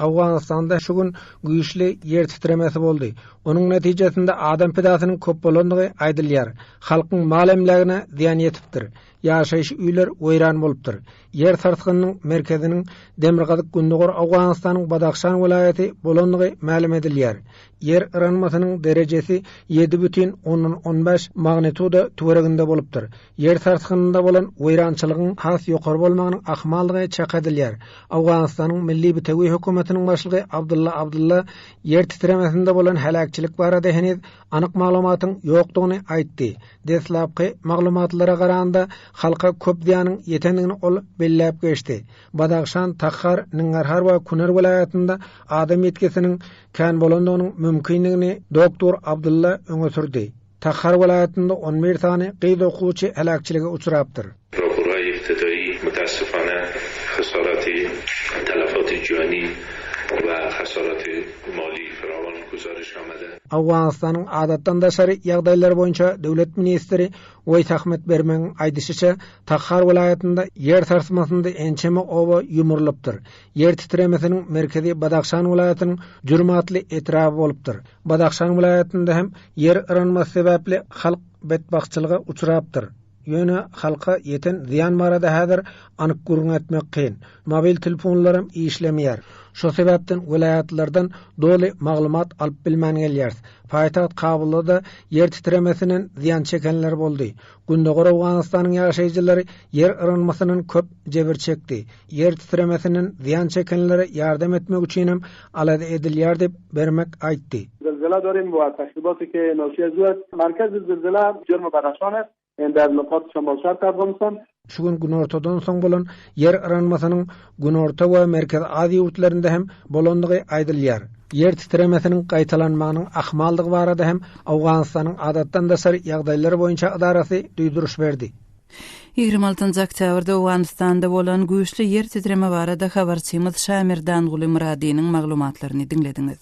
Owganystanda şu gün güýçli ýer titremesi boldy. Onuň netijesinde adam pidasynyň köp bolandygy aýdylýar. Halkyň mal emlägine zyýan ýetipdir. Ýaşaýyş öýler weýran bolupdyr. Ýer sarsgynynyň merkeziniň demirgazyk-gündogar Owganystanyň Badahşan welaýaty bolandygy mälim edilýär. Ýer yranmasynyň derejesi ýedi bütin ondan on bäş magnituda töwereginde bolupdyr. Ýer sarsgynynda bolan weýrançylygyň has ýokary bolmagynyň ahmaldygy çak edilýär. Owganystanyň Milli Bitewi hökümetiniň başlygy Abdulla Abdulla ýer titremesinde bolan heläkçilik barada heniz anyk maglumatyň ýokdugyny aýtdy. Deslapky maglumatlara garanda, halka köp zyýanyň ýetendigini ol belläp geçdi. Badahşan, Tahar, Ngngarhar we Kunar welaýatynda adam ýitgisiniň kän bolandygynyň mümkindigini doktor Abdulla öňe sürdi. Tahar welaýatynda on bir sany gyz okuwçy heläkçilige uçrapdyr. Prokuror ibtidaýy mütässifana haşaraty talafati jöni we haşaraty maly firawun güzeriş amele. Owganystanyň Adatdan daşary ýagdaýlar boýunça döwlet ministri Weýs Ahmet Bermegiň aýdyşyça, Tahar welaýatynda ýer sarsmasynda ençeme oba ýumrulypdyr. Ýer titremesiniň merkezi Badahşan welaýatynyň Jürm atly etraby bolupdyr. Badahşan welaýatynda hem ýer yranmasy sebäpli halk betbagtçylyga uçrapdyr. Ýöne halka ýeten zyýan barada häzir anyk gürrüň etmek kyn. Mobil telefonlaram işlemeýär. Şo sebäpden welaýatlardan doly maglumat alyp bilmän gelýäris. Paýtagt Kabulda-da ýer titremesinden zyýan çekenler boldy. Gündogar Owganystanyň ýaşaýjylary ýer yranmasyndan köp jebir çekdi. Ýer titremesinden zyýan çekenlere ýardam etmek üçin hem alada edilýär diýip, Bermek aýtdy. Zylzyla Dorin bywa Kaşibosi Keýe Noşie Zuet Markazi Zylzyla Jürmi Garaşone Ender Lukat Şomolşar Targumson, Şu gün günortadan soň bolan ýer yranmasynyň Günorta we Merkezi Aziýa ýurtlarynda hem bolandygy aýdylýar. Ýer titremesiniň gaýtalanmagynyň ahmaldygy barada hem Owganystanyň Adatdan daşary ýagdaýlar boýunça edarasy duýduryş berdi. Ýigrimi altynjy oktýabrda Owganystanda bolan güýçli ýer titreme barada habarçymyz Şamir Danguly Myradynyň maglumatlaryny diňlediňiz.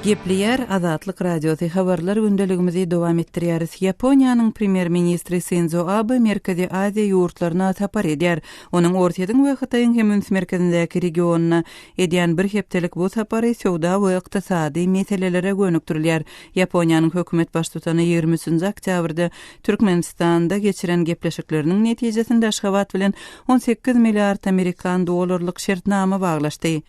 Gepleýär Azatlyk Radiosy habarlar gündeligimizi dowam etdirýäris. Ýaponiýanyň premýer-ministri Sindzo Abe Merkezi Aziýa ýurtlaryna sapar edýär. Onuň Orsýetiň we Hytaýyň hem üns merkezindäki regionyna edýän bir hepdelik bu sapary söwda we ykdysady meselelere gönükdirilýär. Ýaponiýanyň hökümet baştutany ýigrimi üçünji oktýabrda Türkmenistanda geçiren gepleşikleriniň netijesinde Aşgabat bilen on sekiz milliard amerikan dollarlyk şertnama baglaşdy.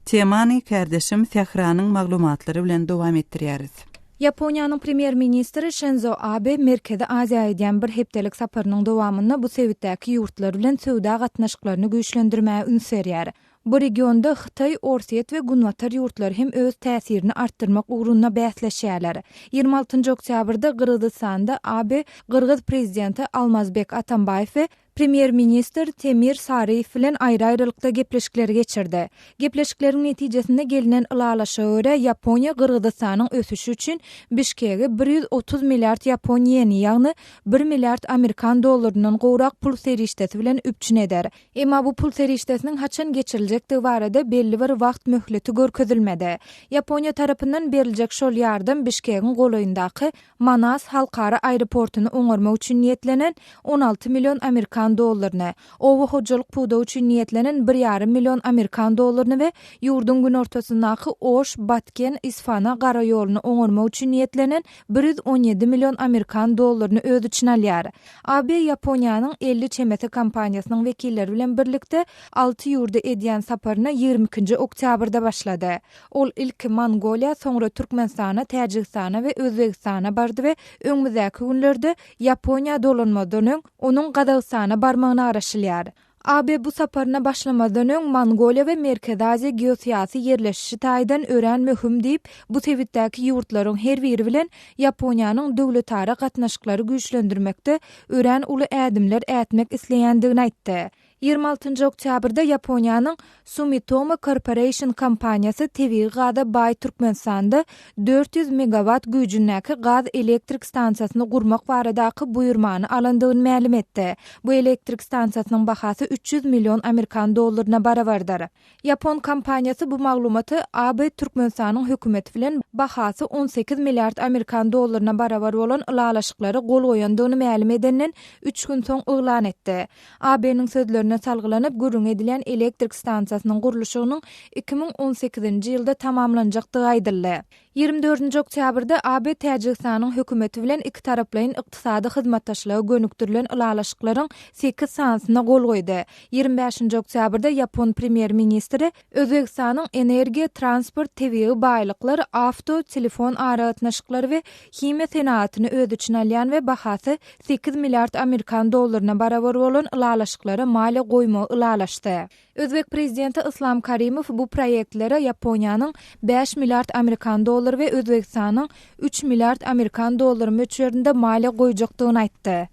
Temany kärdeşim Sähranyň maglumatlary bilen dowam etdirýäris. Ýaponiýanyň Premýer-ministri Şenzo Abe Merkezi Aziýa edýän bir hepdelik saparynyň dowamynda bu sebitdäki ýurtlar bilen söwda gatnaşyklaryny güýçlendirmäge üns berýär. Bu regionda Hytaý, Orsýet we Günbatar ýurtlary hem öz täsirini artdyrmak ugrunda bäsleşýärler. Ýigrimi altynjy oktýabrda Gyrgyzystanda AB gyrgyz prezidenti Almazbek Atambaýew we premýer-ministr Temir Saryýew bilen aýry-aýrylykda gepleşikleri geçirdi. Gepleşikleriň netijesinde gelnen ylalaşyga görä, Ýaponiýa Gyrgyzystanyň ösüşi üçin Bişkege bir ýüz otuz milliard ýapon ýeni, ýagny bir milliard amerikan dollaryndan gowrak pul serişdesi bilen üpjün eder. Emma bu pul serişdesiniň haçan geçiriljekdigi barada belli bir wagt möhleti görkezilmedi. Ýaponiýa tarapyndan beriljek şol ýardam Bişkegiň golaýyndaky Manas halkara aeroportyny oňarmak üçin niýetlenen on alty million amerikan dollaryny, oba hojalyk pudagy üçin niýetlenen bir ýarym million amerikan dollaryny we ýurduň günortasyndaky Oş, Batken, Isfana garaýoluny oňarmak üçin niýetlenen bir ýüz on ýedi million amerikan dollaryny öz içine alýar. AB Ýaponiýanyň elli çemesi kompaniýasynyň wekilleri bilen birlikde alty ýurda edýän saparyna ýigrimi ikinji oktýabrda başlady. Ol ilki Mongoliýa, soňra Türkmenistana, Täjigistana we Özbegistana bardy we öňümizdäki günlerde Ýaponiýa dolanmazdan öň, onuň Gazagystana barmagyna garaşylýar. AB bu saparyna başlamazdan öň Mongoliýa we Merkezi Aziýa geosyýasy ýerleşişi taýdan örän möhüm diýip, bu sebitdäki ýurtlaryň her biri bilen Ýaponiýanyň döwletara gatnaşyklary güýçlendirmekde örän uly ädimler ätmek isleýändigini aýtdy. Ýigrimi altynjy oktýabrda Ýaponiýanyň Sumitomo Corporation kompaniýasy tebigy gaza baý Türkmenistanda dört ýüz megawat güýjündäki gaz elektrik stansiýasyny gurmak baradaky buýurmany alandygyny mälim etdi. Bu elektrik stansiýasynyň bahasy üç ýüz million amerikan dollaryna barabardyr. Ýapon kompaniýasy bu maglumaty AB Türkmenistanyň hökümeti bilen bahasy on sekiz milliard amerikan dollaryna barabar bolan ylalaşyklara gol goýandygyny mälim edenden üç gün soň yglan etdi. AB-nyň sözlerine salgylanyp, gürrüňi edilýän elektrik stansiýasynyň gurluşygynyň iki müň on sekizinji ýylda tamamlanjakdygy aýdyldy. Ýigrimi dördünji oktýabrda AB Täjigistanyň Hökümeti bilen ikitaraplaýyn ykdysady hyzmatdaşlyga gönükdirilen ylalaşyklaryň sekiz sanysyna gol goýdy. Ýigrimi bäşinji oktýabrda ýapon Premýer-ministri, Özbegistanyň energiýa, transport, tebigy baýlyklar, awto, telefon aragatnaşyklary we himiýa senagatyny öz içine alýan we bahasy sekiz milliard amerikan dollaryna barabar bolan ylalaşyklara maliýe goýmagy ylalaşdy. Özbek prezidenti Yslam Karimow bu proýektlere Ýaponiýanyň bäş milliard amerikan dollary we Özbegistanyň üç milliard amerikan dollary möçberinde maliýe goýjakdygyny aýtdy.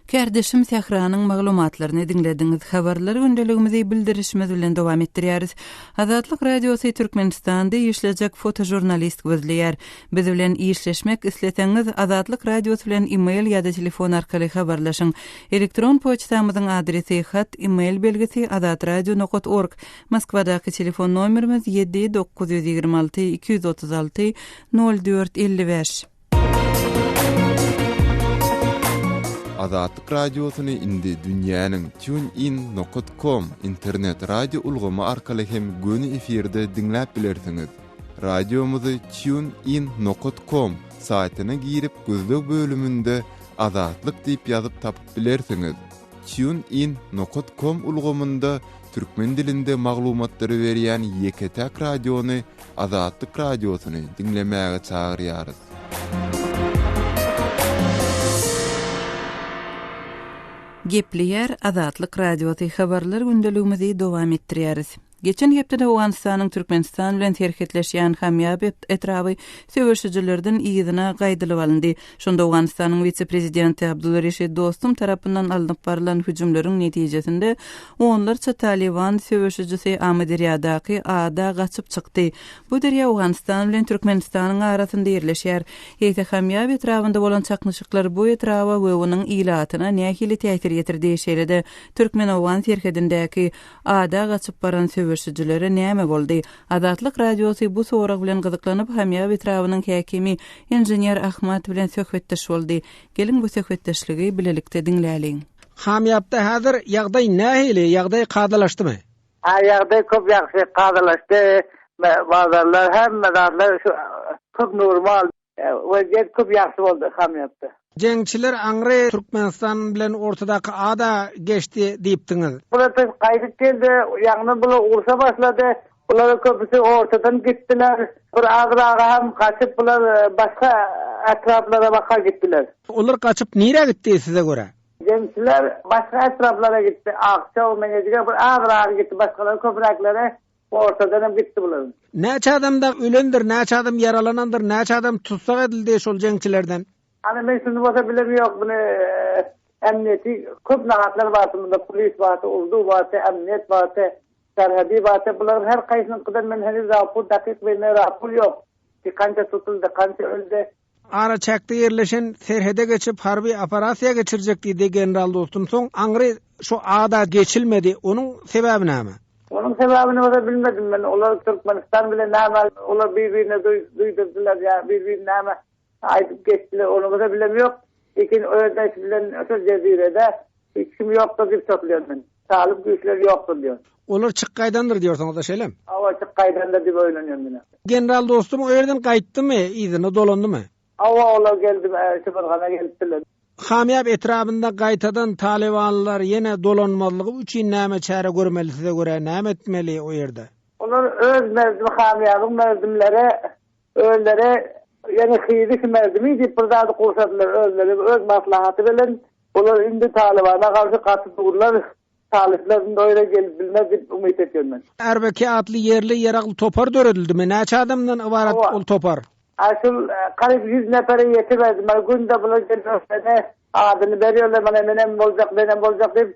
Kärdeşim Sähranyň maglumatlaryny diňlediňiz. Habarlar gündeligimizi bildirişimiz bilen dowam etdirýäris. Azatlyk Radiosy Türkmenistanda işlejek fotožurnalist gözleýär. Biz bilen işleşmek isleseňiz, Azatlyk Radiosy bilen e-mail ýa-da telefon arkaly habarlaşyň. Elektron poçtamyzyň adresi, hat, e-mail belgisi, azatradio nokat org, Moskwadaky telefon nomerimiz, ýedi, dokuz ýüz ýigrimi alty, iki ýüz otuz alty, nol dört, elli bäş. Azatlyk Radiosyny indi dünýäniň TuneIn nokat kom internet radio ulgamy arkaly hem göni efirde diňläp bilersiňiz. Radiomyzy TuneIn nokat kom saýtyna girip gözleg bölüminde Azatlyk diýip ýazyp tapyp bilersiňiz. TuneIn nokat kom ulgamynda türkmen dilinde maglumatlary berýän ýeke-täk radiony Azatlyk Radiosyny diňlemäge çagyrýarys. Gepleýär Azatlyk Radiosy habarlar gündeligimizi dowam etdirýäris. Geçen hepdede Owganystanyň Türkmenistan bilen serhetleşýän Hamýab etraby söweşijilerden yzyna gaýdylyp alyndy. Şonda Owganystanyň wise-prezidenti Abdulreşid Dostum tarapyndan alnyp barylan hüjümleriň netijesinde onlarça Talyban söweşijisi Amyderýadaky ada gaçyp çykdy. Bu derýa Owganystan bilen Türkmenistanyň arasynda ýerleşýär. Eýse Hamýab etrabynda bolan çaknyşyklar bu etraba we onuň ilatyna nähili täsir ýetirdi, şeýle-de türkmen-owgan serhedindäki Ada gaçyp baran söweşijilere näme boldy? Azatlyk Radiosy bu sorag bilen gyzyklanyp, Hamyab etrabynyň häkimi inžener Ahmad bilen söhbetdeş boldy. Geliň bu söhbetdeşligi bilelikde diňläliň. Hamyabda häzir ýagdaý nähili? Ýagdaý kadalaşdymy? Hä, ýagdaý köp ýagşy kadalaşdy. Bazarlar, hemme zatlar şu köp nuruma aldy. Wezziýet köp ýagşy boldy hamyýotda. Jeňçiler aňry Türkmenistan bilen ortadaky ada geçdi diýipdiňiz. Bular biz gaýdyp geldi, ýaňydan bular urşa başlady. Bularyň köpüsi ortadan gitdiler. Bir azyragy hem gaçyp bular başga etraplara baka gitdiler. Olar gaçyp nirä gitdi size görä? Jeňçiler başga etraplara gitdi. Akçaw, Meňejige bir azyragy gitdi, başgalary köpüräkleri Ortadanam gitdi bular. Näçe adam dag ölendir, näçe adam ýaralanandyr, näçe adam tussag edildi şol jeňçilerden? Ana men şuny bolsa bilem ýok muny emniýeti köp nahatlar bardy munda polis bardy urdu bardy emniýet bardy serhedi bardy bularyň her kaýsynyňkydan men heniz rapur dakyk belli rapur ýok ki kança tutuldy kança öldi Araçäkde ýerleşen serhede geçip harby operasiýa geçirjek diýdi general Dostum soň aňry şu ada geçilmedi onuň sebäbi näme? Onuň sebäbini bolsa bilmedim men olar Türkmenistan bilen näme olar bir birine duýdurdylar ýa bir birine näme aýdyp geçdiler ony bolsa bilemýok lekin öz eşi bilen şol jezirede hiç kim ýokdur diýip topulýan men. Talyp güýçler ýokdur diýýär. Olar çyk gaýdandyr diýorsyňyz-da şeýlemi? Hawa, çyk gaýdandyr diýip oýlanýan diňe. General dostum o ýerden gaýtdymy, yzyna dolandymy? Hawa, olar geldi, Şybyrgana gelipdiler. Hamýap etrabynda gaýtadan talybanlar ýene dolanmazlygy üçin näme çäre görmeli size görä, näme etmeli o ýerde? Olar öz merdim Hamýabyň merdimleri Özleri ýene hyzy himerdimi diýip bir zady gurşadylar özleri öz maslahaty bilen olar indi Talybana garşy gaty durlar Talyplar indi o ýere gelip bilmez diýip umyt etýän men. Arbeki atly ýerli ýeragly topar döredildimi? Näçe adamdan ybarat ol topar? Aşul garyp ýüz nepere ýetiberdi. Mana günde bular gelip öňlerine adyny berýärler, mana menem boljak, menem boljak diýip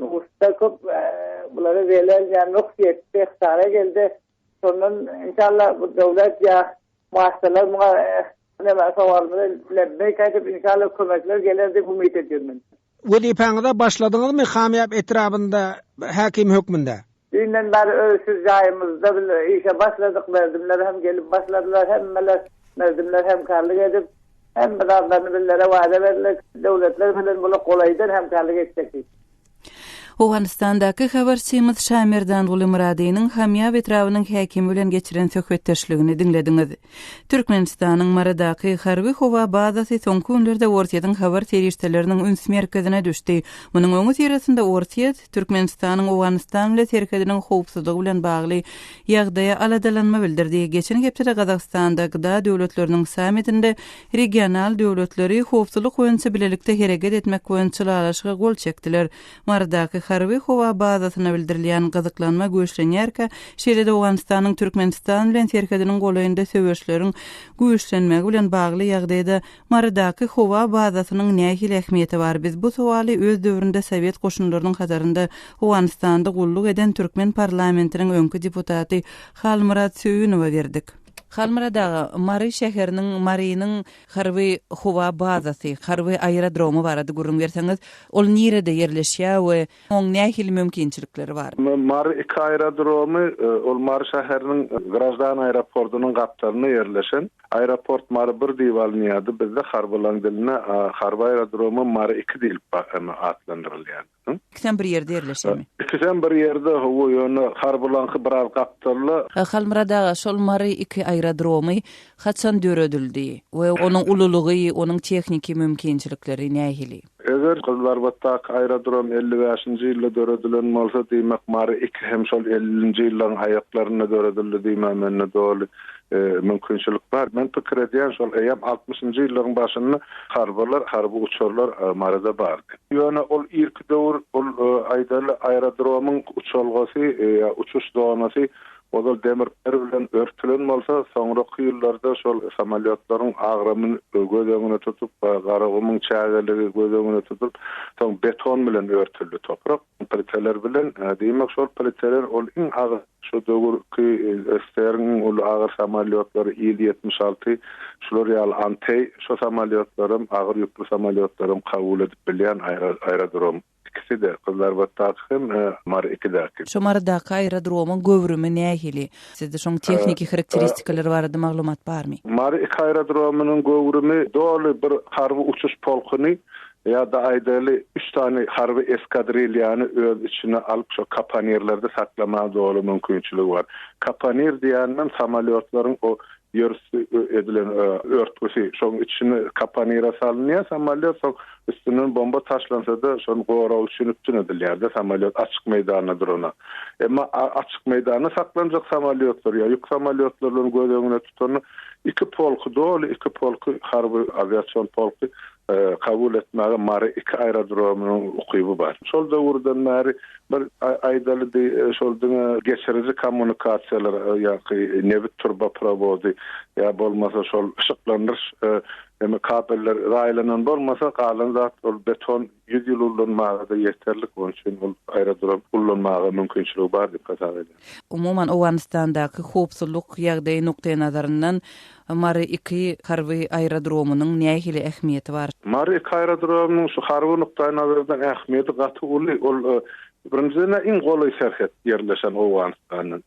Nusda köp bulara welel ýa nuks ýetdi ihtara geldi şondan inşallah bu döwlet ýa maşgalar muňa näme sowalymyza lebbeýk aýdyp inşallah kömekler geler diýip umyt edýän men. Wezipäňize başladyňyzmy Hamýap etrabynda häkim hökmünde? Düýnden bäri öz şu jaýymyzda biz işe başladyk, merdimler hem gelip başladylar, hemmeler, merdimler hemkärlik edip, hemme zatlaryny bizlere wada berdiler, döwletler bilen bula golaýdan hemkärlik etjek diýip. Owganystandaky habarçymyz Şamerdan Gulymyradynyň Hamýab etrabynyň häkimi bilen geçiren söhbetdeşligini diňlediňiz. Türkmenistanyň Marydaky harby-howa bazasy soňky günlerde Orsýetiň habar serişdeleriniň üns merkezine düşdi. Munuň öňüsyrasynda Orsýet, Türkmenistanyň Owganystan bilen serhediniň howpsuzlygy bilen bagly ýagdaýa aladalanma bildirdi. Geçen hepdede Gazagystanda GDA döwletleriniň sammitinde regional döwletleri howpsuzlyk boýunça bilelikde hereket etmek boýunça ylalaşyga gol çekdiler. Marydaky harby-howa bazasyna bildirilýän gyzyklanma güýçlenýärkä, şeýle-de Owganystanyň Türkmenistan bilen serhediniň golaýynda söweşleriň güýçlenmegi bilen bagly ýagdaýda Marydaky howa bazasynyň nähili ähmiýeti bar? Biz bu sowaly öz döwründe sowet goşunlarynyň hatarynda Owganystanda gulluk eden türkmen parlamentiniň öňki deputaty Halmyrat Söýünowa berdik. Halmyrat aga, Mary şäheriniň, Marynyň harby howa bazasy, harby aerodromy barada gürrüň berseňiz, ol nirede ýerleşýär we Oň nähili mümkinçilikleri bar? Mary iki aerodromy, ol Mary şäheriniň graždan aeroportynyň gapdalynda ýerleşen. Aeroport Mary bir diýip alynýardy, bizde harbylaň dilinde harby aerodroma Mary iki diýlip atlandyrylýardy. Ikisem bir ýerde ýerleşýärmi? Ikisem bir ýerde, hawa, ýöne harbylaňky biraz gapdalda. Halmyrat aga, şol Mary iki aerodromy haçan döredildi we onuň ululygy, onuň tehniki mümkinçilikleri nähili? Eger gyzlarbatdaky aerodrom elli bäşinji ýylda döredilen bolsa, diýmek Mary iki hem şol ellinji ýyllaryň aýaklarynda döredildi diýmä mende doly mümkinçilik bar. Men pikir edýän şol eýýäm altmyşynjy ýyllaryň başynda harbylar, harby uçarlar Maryda bardy. Ýöne ol irki döwür ol aýdaly aerodromyň uçalgasy ýa uçuş zonasy Ozal demir gir bilen örtülen bolsa, soňraky ýyllarda şol samolýotlaryň agramyn göz öňüne tutup, Garagumuň çägeligi göz öňüne tutulyp, soň beton bilen örtüldi toprak, pliteler bilen. Diýmek, şol pliteler ol iň agyr, şo döwürki SSR-iň iň uly agyr samolýotlary Il-ýetmiş alty, şular ýaly Anteý, şo samolýotlaram, agyr ýükli samolýotlaram kabul edip bilýän aerodrom. Ikisi-de, Gyzlarbatdaky hem Mary ikidäki. Şo Marydaky aerodromyň göwrümi nähili? Sizde şoň tehniki harakteristikalary barada maglumat barmy? Mary iki aerodromynyň göwrümi doly bir harby uçuş polkuny ýa-da aýdaýly üç sany harby eskadrilýany öz içine alyp şo kapanirlerde saklamaga doly mümkinçiligi bar. Kapanir diýändem samolýotlaryň o ýörüs edilen örtgüsi. Şoň içine kapanire salynýar samolýot, soň Üstünden bomba taşlansada şony goragy üçin üpjün edilýärdi samolýot açyk meýdanda durana. Emma açyk meýdanda saklanjak samolýotlar ýa ýük samolýotlar bilen göz öňüne tutanda iki polky doly iki polky harby awiasion polky kabul etmäge Mary iki aerodromynyň ukyby bar. Şol döwürden bäri bir aýdaly di şol diňe geçiriji kommunikasiýalar ýa-ki nebit turba prowody ýa bolmasa şol yşyklandyryş Indi kabeller raýlanan bolmasa, galan zat ol beton ýüz ýyl ullanmaga-da ýeterlik, onuň üçin ol aerodrom ullanmaga mümkinçiligi bar diýip hasap edýär. Umuman, Owganystandaky howpsuzlyk ýagdaýy nukdaýnazaryndan Mary-II harby aerodromynyň nähili ähmiýeti bar? Mary-II aerodromynyň şu harby nukdaýnazardan ähmiýeti gaty uly. Ol Birinjiden-ä iň golaý serhet ýerleşen Owganystandan,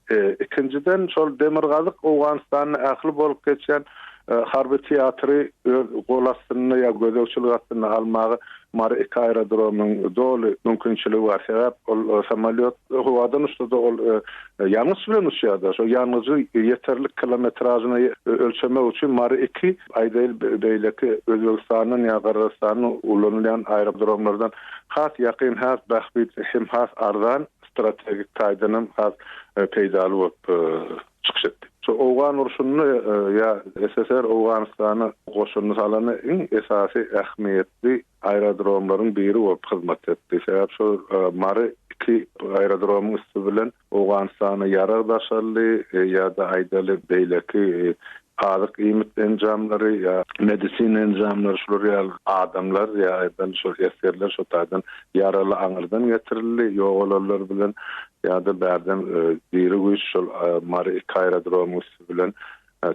ikinjiden şol demirgazyk Owganystanda ähli bolup geçýän harby teatry öz gol astynda ýa gözegçilik astynda almaga Mary iki aerodromyň doly mümkinçiligi bar. Sebäp ol samolýot howadan uçsa-da ol ýangyç bilen uçýar-da. Şo ýangyjy ýeterlik kilometražyny ölçemek üçin Mary iki Aýdaýyl, beýleki Özbegistandan ýa Gyrgyzystandan ulanylýan aerodromlardan has ýakyn, has bähbitli hem has arzan, strategik taýdanam has peýdaly bolup çykyş etdi. Şu Owgan urşunda ýa SSR Owganystana goşuny salanda iň esasy ähmiýetli aerodromlaryň biri bolup hyzmat etdi. Sebäbi şol Mary iki aerodromyň üsti bilen Owganystana ýarag daşaldy ýa-da aýdaly beýleki azyk iýmit enjamlary ýa medisina enjamlary şular ýaly adamlar ýa aýdaly şol esgerler şo taýdan ýaraly aňyrdan getirildi ýogalanlar bilen ýa-da bärden diri güýç şol Mary iki aerodromyň üsti bilen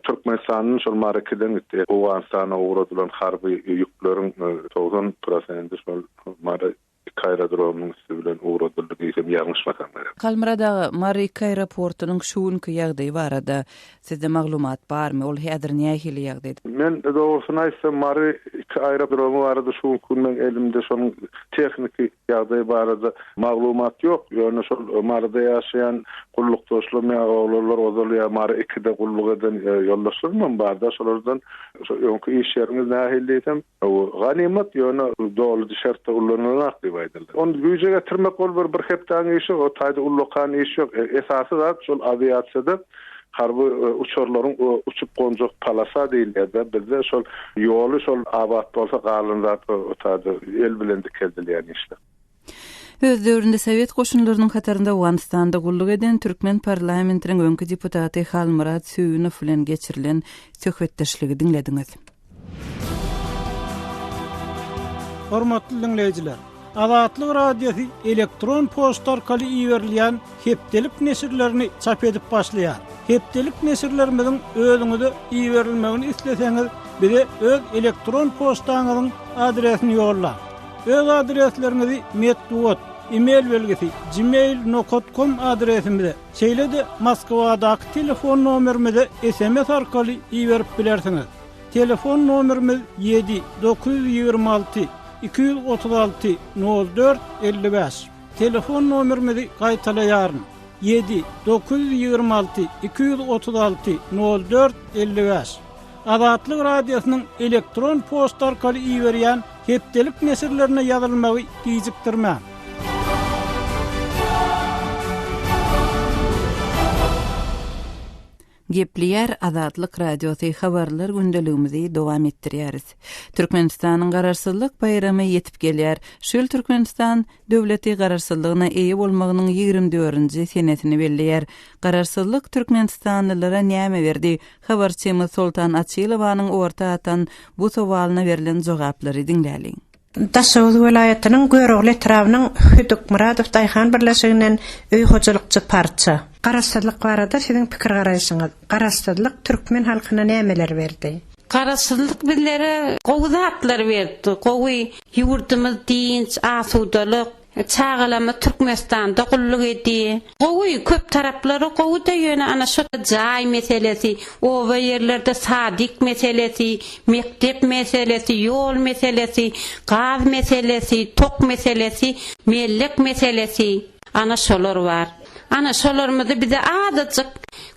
Türkmenistandan şol Mary ikiden gitdi Owganystana ugradylan harby ýükleriň togsan prosendi şol Mary Iki aerodromyň üsti bilen ugradyldy diýsem ýalňyşmasam gerek. Halmyrat aga, Mary iki aeroportynyň şu günki ýagdaýy barada sizde maglumat barmy? Ol häzir nähili ýagdaýda? Men dogrusyny aýtsam, Mary iki aerodromy barada şu günki gün meň elimde şonuň tehniki ýagdaýy barada maglumat ýok. Ýöne şol Maryda ýaşaýan gullukdaşlarym ýa oglanlar ozal ýa Mary ikide gulluk eden ýoldaşlarymam barda, şolardan şu öňki iş ýeriňiz nähili diýsem, Hawa, ganymat, ýöne doly dişartda ullanylanok diýip aýdyldy. Ony güýje getirmek ol bir bir hepdäň işi, o taýda ullakan iş ýok. Esasy zat şol awiasiýada harby uçarlaryň uçup gonjak polasa diýilýär-dä bizde, şol ýoly şol abat bolsa galan zat o taýda el bilen dikeldilýän işler. Öz döwründe sowet goşunlarynyň hatarynda Owganystanda gulluk eden türkmen parlamentiniň öňki deputaty Halmyrat Söýünow bilen geçirilen söhbetdeşligi diňlediňiz. Hormatly diňleýjiler! Azatlyk Radiosy elektron poçta arkaly iberilýän hepdelik neşirlerini çap edip başlaýar. Hepdelik neşirlerimiziň özüňize iberilmegini isleseňiz, bize öz elektron poçtaňyzyň adresini ýollaň. Öz adresleriňizi metbugat, e-mail belgisi, gmail nokat kom adresimize, şeýle-de Moskwadaky telefon nomerimize sms arkaly iberip bilersiňiz. Telefon nomerimiz ýedi, dokuz ýüz ýigrimi alty, iki ýüz otuz alty, nol dört, elli bäş. Telefon nomerimizi gaýtalaýaryn, ýedi, dokuz ýüz ýigrimi alty, iki ýüz otuz alty, nol dört, elli bäş. Azatlyk Radiosynyň elektron poçta arkaly iberýän hepdelik neşirlerine ýazylmagy gijikdirmäň. Gepleýär Azatlyk Radiosy, Habarlar gündeligimizi dowam etdirýäris. Türkmenistanyň Garaşsyzlyk baýramy ýetip gelýär. Şu ýyl Türkmenistan döwleti Garaşsyzlygyna eýe bolmagynyň ýigrimi dördünji senesini belleýär. Garaşsyzlyk türkmenistanlylara näme berdi? Habarçymyz Soltan Açylowanyň orta atan bu sowalyna berlen jogaplary diňläliň. Daşoguz welaýatynyň Görogly etrabynyň Hödükmyradow daýhan birleşiginden öý hojalykçy parça. Garaşsyzlyk barada siziň pikir-garaýşyňyz? Garaşsyzlyk türkmen halkyna nämeleri berdi? Garaşsyzlyk bizlere gowy zatlary berdi, gowy ýurdumyz dynç, asudalyk, Çagalarymyz Türkmenistanda gulluk edýär. Gowy, köp taraplary gowy-da ýöne ana şo jaý meselesi, oba ýerlerde sadyk meselesi, mekdep meselesi, ýol meselesi, gaz meselesi, tok meselesi, mellek meselesi, ana şolar bar. Ana şolarymyzy bize azajyk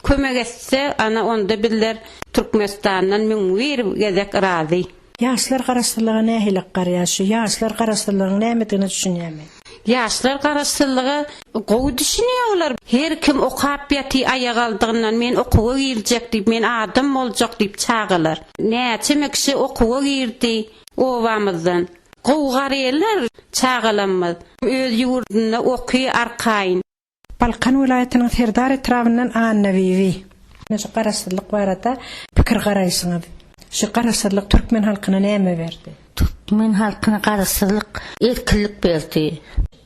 kömek etse ana onda bizler Türkmenistandan müň bir gezek razy. Ýaşlar garaşsyzlyga nähili garýar? Şu ýaşlar garaşsyzlygyň nämedigine düşünýärmi? Ýaşlar garaşsyzlyga gowy düşünýärler. Her kim okap ýaty aýagaldygyndan men okuwa girjek diýip, men adam boljak diýip çagalar. Näçeme kişi okuwa girdi obamyzdan. Gowy garýarlar çagalarymyz. Öz ýurdunda oky arkaýyn. Balkan welaýatynyň Serdar etrabyndan Annabibi. Ine şu garaşsyzlyk barada pikir garaýşyňyz. Şu garaşsyzlyk türkmen halkyna näme berdi? Türkmen halkyna garaşsyzlyk erkinlik berdi.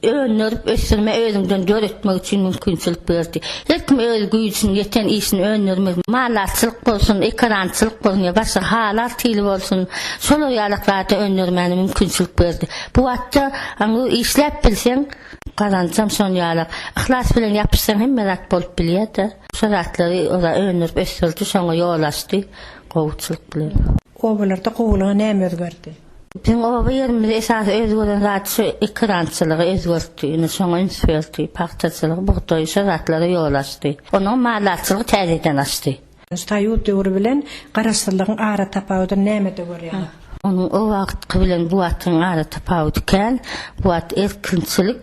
Öndürip ösdürme özüňden döretmek üçin mümkinçilik berdi. Her kim öz güýjüni ýeten işini öndürmek, mallatçylyk bolsun, ekerançylyk bolsun ýa başga halar hili bolsun, şolar ýalak zady öndürmäne mümkinçilik berdi. Bu wagtda işläp bilseň, Gazançam şon ýalak. Yhlas bilen ýapyşsaň hemme zat bolup bilýärda. Şo zatlary oza öndürip ösdürdi şoňa ýol açdy gowuçylyk bilen. Obalarda gowulyga näme özgerdi? Biziň oba ýerimizde esasy özgeren zat şu ekerançylygy özgertdi. Ine şoňa üns berdi. Pagtaçylygy, bugdaýy şo zatlara ýol açdy. Onnoň maldarçylygy täzeden açdy. Soýuz döwri bilen Garaşsyzlygyň aratapawudyny nämede görýäňiz? Onuň o wagtky bilen bu wagtyň aratapawudy kän. Bu wagt erkinçilik,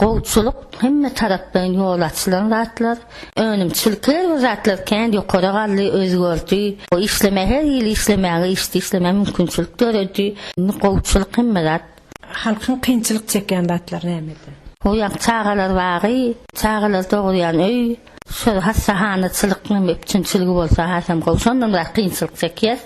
gowçulyk hemme taraplaýyn ýol açylan zatlar. Önümçilik her bir zatlar kän ýokara galdy, özgerdi. Işlemäge her hili işlemäge, işde işlemäge mümkinçilik döredi. Indi gowçulyk hemme zat. Halkyň kynçylyk çekýän zatlary nämede? O ýaňky çagalar bagy, çagalar dogurýan öý. Şol hassahanaçylyk hem üpjünçiligi bolsa has hem gowy. Şondan biraz kynçylyk çekýäs.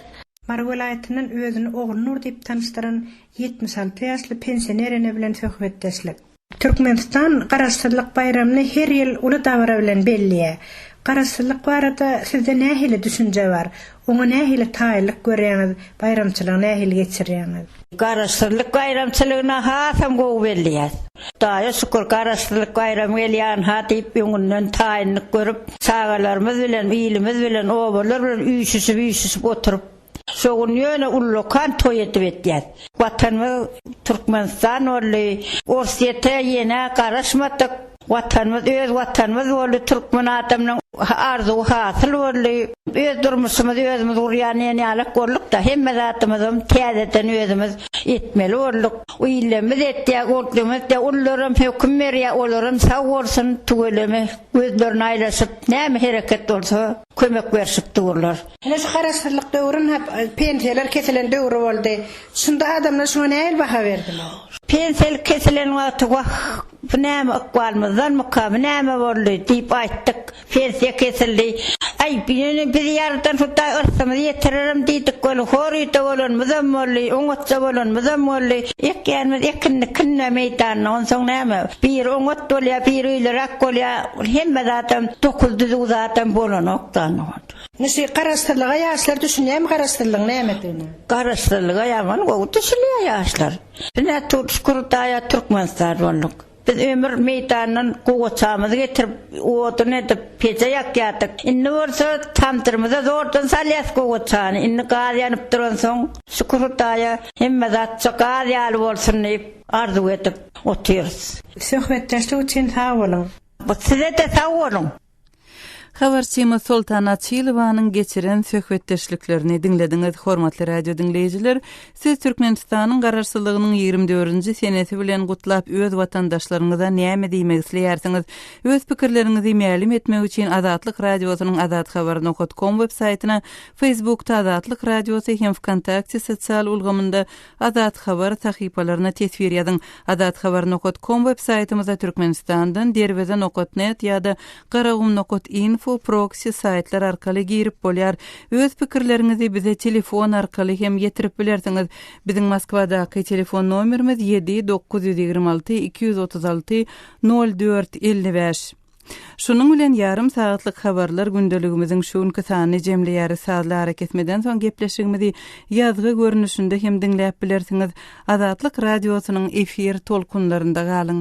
Mary welaýatyndan özüni Ogulnur diýip tanyşdyran ýetmiş alty ýaşly pensioner ene bilen söhbetdeşlik. Türkmenistan Garaşsyzlyk baýramyny her ýyl uly dabara bilen belleýär. Garaşsyzlyk barada sizde nähili düşünje bar? Oňa nähili taýynlyk görýäňiz, baýramçylygy nähili geçirýäňiz? Garaşsyzlyk baýramçylygyna hasam gowy belleýäs. Hudaýa şükür, Garaşsyzlyk baýramy gelýän-ha diýip öňünden taýynlyk görüp, çagalarymyz bilen, ilimiz bilen, obalar bilen üýşüşip-üýşüşip oturyp, şo gün ýöne ullakan toý edip etýäs. Watanymyz Türkmenistan boldy. Orsýete ýene garaşmadyk. Watanymyz öz Watanymyz boldy, türkmen adamynyň arzuwy hasyl boldy. Öz durmuşymyzy özümiz gurýan diýen ýalak bolduk-da, hemme zadymyzam täzeden özümiz etmeli bolduk. Ilimiz etýär, ýurdumyzda ullaram höküm berýär, olaram sag bolsun, tüweleme gözlerini aýlaşyp, näme hereket bolsa kömek berşip durlar. Ine şu garaşsyzlyk döwründe pensiýalar kesilen döwri boldy. Şunda adamlar şuňa nähili baha berdiler? Pensiýa kesilen wagty wah, Bu näme, ykbalymyzdanmyka, bu näme boldy? diýip aýtdyk. Pensiýa kesildi. Aý, ýöne biz Ýarydan Hudaý yrsymyzy ýetirerin diýdik. Weli, horuýda bolanymyzam boldy, oňatda bolanymyzam boldy. Ekýänimiz ekinini künde meýdanda, onsoň näme, biri oňat bolýar, biri öýleräk bolýar. Hemme zadam, dokuz düzüw zadam bolanokda onsoň. Indi şu garaşsyzlyga ýaşlar düşünýärmi, garaşsyzlygyň nämedigine? Garaşsyzlyga ýaman gowy düşünýär ýaşlar. Biz Aturt Şükür daýa Türkmenistan bolduk. Biz ömür meýdandan gowaçamyzy getirip, odun edip, peje ýakýardyk. Indi bolsa tamdyrymyza zordan salýas gowaçany. Indi gaz ýanyp duransoň, Şükür Hudaýa hemme zatça gaz ýaly bolsun diýip, arzuw edip otyrys. Söhbetdeşlik üçin sag boluň. Size-de sag boluň. Habarçymyz Soltan Açylowanyň geçiren söhbetdeşliklerini diňlediňiz. Hormatly radio diňleýjiler, siz Türkmenistanyň Garaşsyzlygynyň ýigrimi dördünji senesi bilen gutlap, öz watandaşlaryňyza näme diýmek isleýärsiňiz? Öz pikirleriňizi mälim etmek üçin Azatlyk Radiosynyň Azat Habar nokat kom web saýtyna, Facebookda Azatlyk Radiosy hem Wkontakte sosial ulgamynda Azat Habar sahypalaryna teswir ýazyň. Azathabar nokat kom web saýtymyzda Türkmenistandan Derweze nokat net ýa-da Garagum nokat info proksi saýtlar arkaly girip bolýar. Öz pikirleriňizi bize telefon arkaly hem ýetirip bilersiňiz. Biziň Moskwadaky telefon nomerimiz ýedi dokuz ýüz ýigrimi alty iki ýüz otuz alty nol dört elli bäş. Şunuň bilen ýarym sagatlyk habarlar gündeligimiziň şu günki sanyny jemleýäris sazly arakesmeden soň gepleşigimizi ýazgy görnüşinde hem diňläp bilersiňiz Azatlyk radiosynyň efir tolkunlarynda galyň.